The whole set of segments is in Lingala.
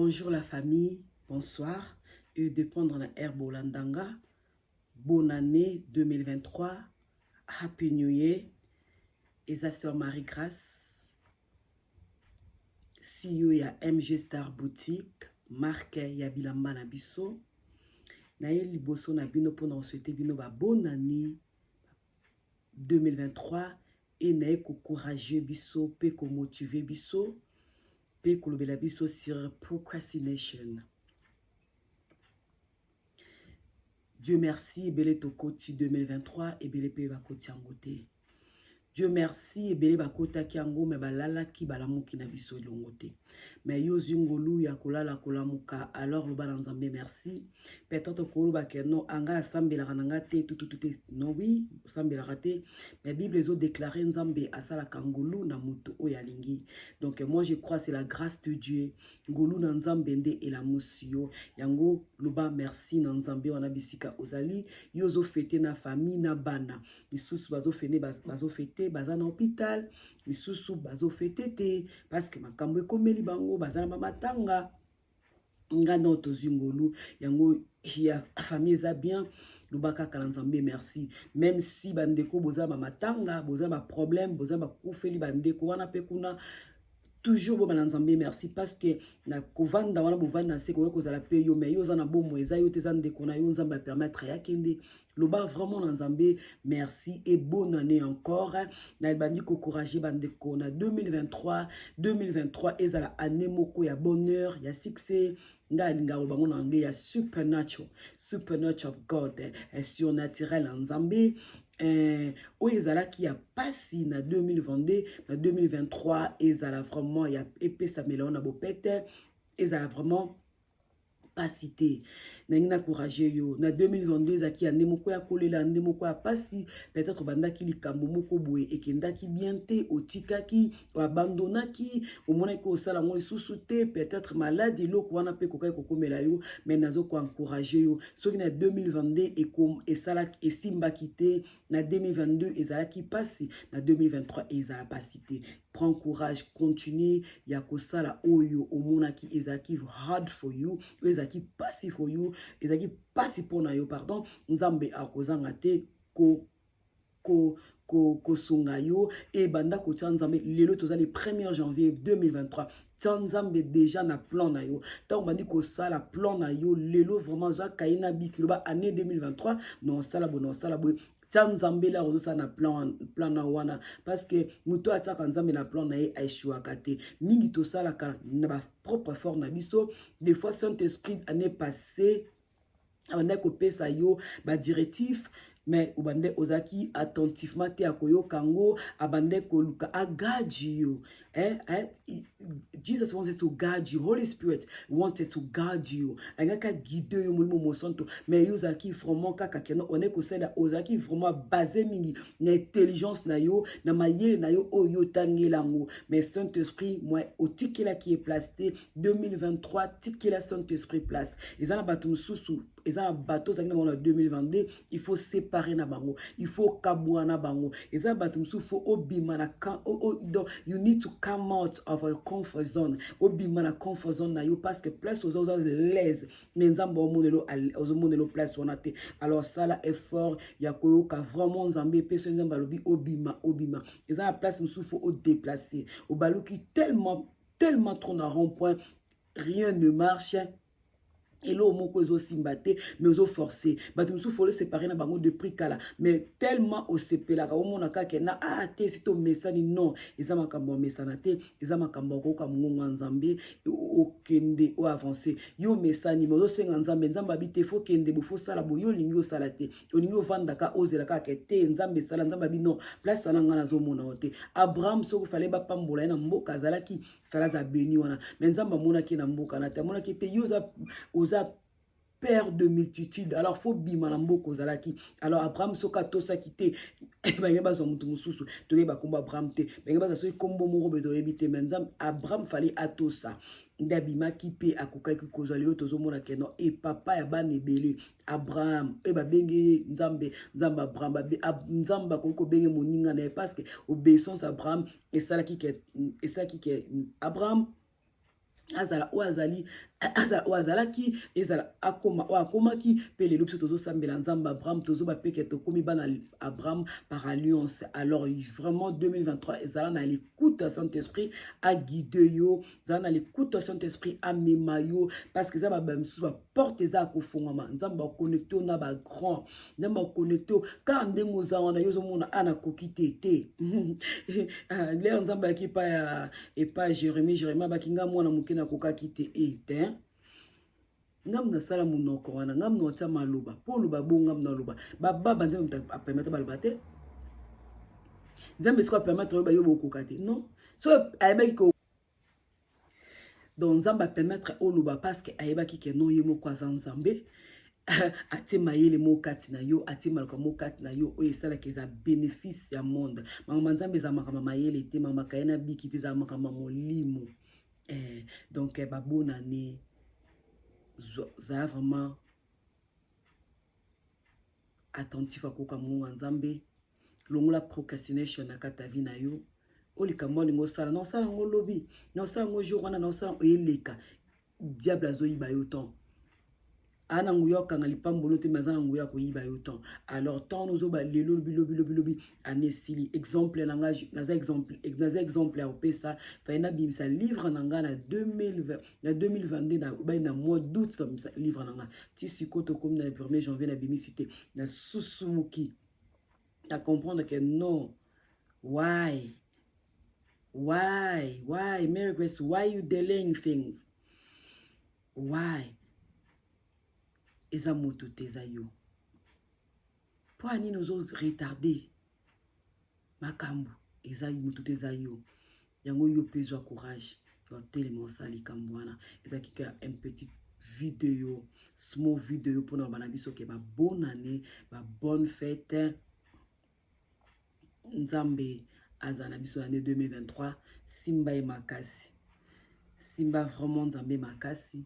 Bonjour la famille, bonsoir. Et de prendre la air Bolandanga. Bonne année 2023. Happy New Year. Et sa sœur Marie-Grace. CEO ya MG Star Boutique. Marque ya Bilamba na biso. Na ye liboso na bino pona souhaiter bino ba bonne année. 2023 et naye ko courageux biso pe ko motiver biso pe kolobela biso sur procrastination Dieu merci ebele tokoti 2023 ebele pe bakoti yango te Dieu merci ebele bakotaki yango me balalaki balamuki na biso elongo te mais yo ozwi ngolu ya kolala kolamuka alors loba na nzambe merci peut-être okoloba ke non anga asambelaka na nga te tututu te non oui osambelaka te mais bible ezodeklare nzambe asalaka ngolu na moto oyo alingi donc moi je crois c'est la grâce de dieu ngolu na nzambe nde elamusi yo yango loba merci na nzambe wana bisika ozali yo ozofete na famille na bana lisusu bazofete baza na hôpital misusu bazo fete te parce que makambo ekomeli bango baza na bamatanga nga nao tozwi ngolu yango ya famille eza bien loba kaka na nzambe merci meme si bandeko boza bamatanga boza baproblème boza bakufeli bandeko wana mpe kuna toujours bobana nzambe merci parce que na kovanda wana bovandi na se koya kozala mpe yo mai yo oza na bomoi eza yo te eza ndeko na yo nzambe apermettre yakende loba vraiment na nzambe merci et bonne année encore na ebandi kocourage bandeko na 2023 2023 ezala année moko ya bonheur ya succès ngai alingaka koloba ngo na anglais ya supernatural supernatural of god eh, surnaturel ya nzambe eh, oyo ezalaki ya mpasi na 2022 na 2023 ezala vraiment ya epesamela yo na bopete ezala vraiment pasi te nangi na courage yo na 2022 ezalaki ya nde moko ya kolela nde moko ya pasi peut-être obandaki likambo moko boye ekendaki bien te otikaki abandonaki omonaki osala yango lisusu te peut-être malade eloko wana mpe ekokaki kokomela yo mais nazo koencourage yo soki na 2022 esalaki esimbaki te na 2022 ezalaki pasi na 2023 ezala pasi te prend courage continue ya kosala oyo omonaki ezalaki hard for you oyo ezalaki mpasi for you ezalaki mpasi mpo na yo pardon nzambe akozanga te ko, ko kosunga yo e banda kotya nzambe lelo toza le 1er janvier 2023 tya nzambe deja na plan na yo ntango obandi kosala plan na yo lelo vraiment zwa kaye na biki loba année 2023 na osala boye na osala boye tia nzambe elaka ozosala na plan, plan na wana parce que moto oyo atiaka nzambe na plan na ye aeshuaka te mingi tosalaka na bapropre effort na biso des fois saint esprit année passé abandaki kopesa yo badirectif mais obande ozalaki attentivement te akoyoka yango abande koluka agaji yo Eh, eh, Jesus wanted to guide you. Holy Spirit wanted to guide you. Angaka guider yo molimo mosanto. Mais yo ozalaki vraiment kaka kena one kosala ozalaki vraiment basé mingi na intelligence na yo, na mayele na yo oyo oh, tangela ngo. Mais Saint-Esprit moi otikela ki est place 2023 tikela Saint-Esprit place. Ezana batu mususu eza na bato ozalaki na bango na 2022 il faut séparer na bango il faut kabwa na bango eza na bato mosusu faut obima na donc you need to come out of your comfort zone obima na comfort zone na yo parce que place oza oza laise mais nzambe omonelo ozomonelo place wana te alors sala effort ya koyoka vraiment nzambe epesi nzambe alobi obima obima eza na place mosusu faut odeplace obaluki tellement tellement trop na rond point rien ne marche eloko moko ezosimba te mais ozo force bato mosusu folo separe na bango de prix kala mais tellement osepelaka omona kaka na ah te si tomesani non eza makambo ya mesana te eza makambo ya koyoka mongongo ya nzambe okende o avance yo omesani mais ozosenga nzambe nzambe abi te fokende bo fosala boye olingi osala te olingi ovandaka ozela kaka te nzambe esala nzambe abi non place ana ngai nazomona yo te abraham soki fale bapambola ye na mboka azalaki fala aza beni wana me nzambe amonaki na mboka na te amonaki te yo oza, oza père de multitude alors faut bima na mboka ozalaki alors abraham soki atosaki te bange bazwa moto mosusu toyeba nkombo abraham te bange bazwa soki nkombo moko boye toyebi te me nzambe abraham fali atosa nde abimaki mpe akokaki kozwa lelo tozomona keno e papa ya bana ebele abraham oyo babengi ye nzambe nzambe abraham nzambe akoki kobenge moninga na ye parce que obeissance abraham esalaki ke esalaki ke abraham azala oyo azali oyo azalaki ezala akoma oyo akomaki mpe lelo biso tozosambela nzambe abraham tozoba mpe ke tokómi bana abraham par alliance alors vraiment 2023 ezala na likuta saint esprit aguide yo zala na likuta saint esprit amema yo parce que eza babaye mosusu porte eza ya kofungwama nzambe baconnecte yo na bagrand nzambe baconnecte yo kaka ndenge oza wana yo ozomona a nakoki te te ah, lere nzambe ayaki epa ya epa jérémi jérémi abaki ngai mwana moke nakokaki te e te ngambo nasala monoko wana ngambo naotya maloba mpo oloba bo ngambo naloba bababa nzambe apemata baloba te nzambe soki apemata yo bayo bokoka te non so ayebaki donc nzambe apermettre oloba parceke ayebaki ke non ye moko aza nzambe atie mayele moko kati na yo atie maloka moko kati na yo oyo esalaka eza bénéfice ya monde makambo ya nzambe eza makambo mayele te makambo akaye na biki te eza makambo ya molimo eh, donc eh, babonane zala vraiment attentif akoka mongongo ya nzambe longola procrastination na kata vie na yo o likambo wana olingi osala na osala yango lobi na osala yango jour wana na osala eleka diable azoyiba yo temps aa na nguya okanga lipambolo te me aza na nguya akoyiba yo temps alors temps wana ozoba lelo lobi lobi lobi lobi ani esili exemple na ngai naza exemple naza exemple ya kopesa faye nabimisa livre na ngai na 2020 na 2022 na bai na mois d'août nabimisa livre na ngai ti sikoyo tokomi na 1er janvier nabimisi te nasusumuki na comprendre que non why why why Mary Grace why you delaying things why eza moto te eza yo mpo ya nini ozo retarde makambu eza mutu te eza yo yango yo pe zwa courage ya otelema osala likambo wana ezalaki kaka un petit video small video mpona bana biso ke ba bonne année ba bonne fête nzambe azala na biso année 2023 simba ye makasi simba vraiment nzambe makasi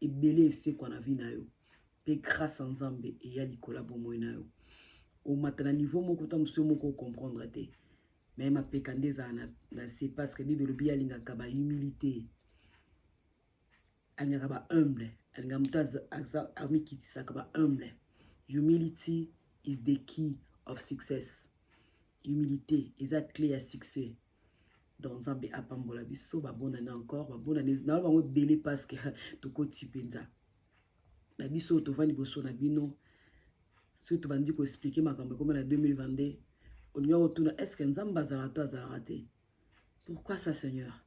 ebele esekwa na vie na yo pe grâce ya nzambe eya likolo ya bomoi na yo omata na niveau moko ta mosusu yo moko ocomprendre te me mapeka nde ezala na, na se parce que bible elobi alingaka ba humilité alingaka ba humble alingaka moto amikitisaka ba humble humility is the key of success humilité eza clé ya succès donc nzambe apambola biso babonani encore babonani na bango ebele parce que tokoti mpenza na biso oyo tovandi liboso na bino soki tobandi koexplike makambo ekoma na 2022 olingi kotuna est ce que nzambe azalaka to azalaka te pourquoi ça seigneur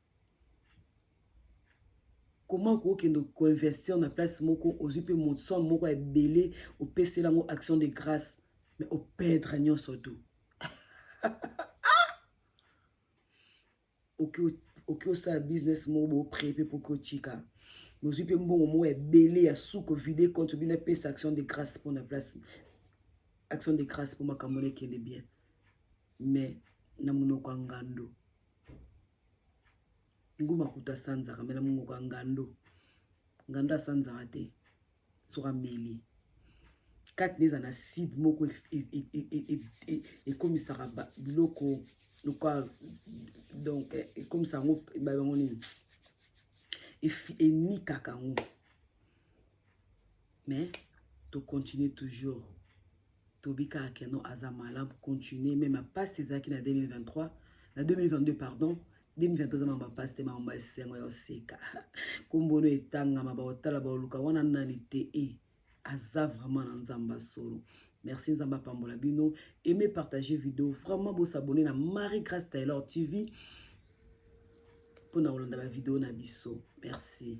comment okokende koinvestir na place moko ozwi mpe moson moko ya ebele opeseli yango action de grâce mais operdre nyonso tout oki oki osala business moko bopre mpe poki otika bozwi mpe mbongo moko ebele ya suko vide compte bino apesa action de grâce mpo na place action de grâce mpo makambo nekende bien mais na monoko ya ngando nguma kuta asanzaka me na monoko ya ngando ngando asanzaka te soki ameli kati na eza na side moko ekomisaka biloko lokola donc ekomisa yango bayango nini enikaka yango mais tocontinue toujours Toby kaka que non aza malade continuer mais ma passe ezalaki na 2023 na 2022 pardon 2023 aza mamba passe te mamba esengo ya oseka kombono etangama baotala baoluka wana nani te e aza vraiment na nzamba solo merci nzambe apambola bino aime partage video vraiment bosabone na marie grace taylor tv mpo na kolanda bavideo na biso merci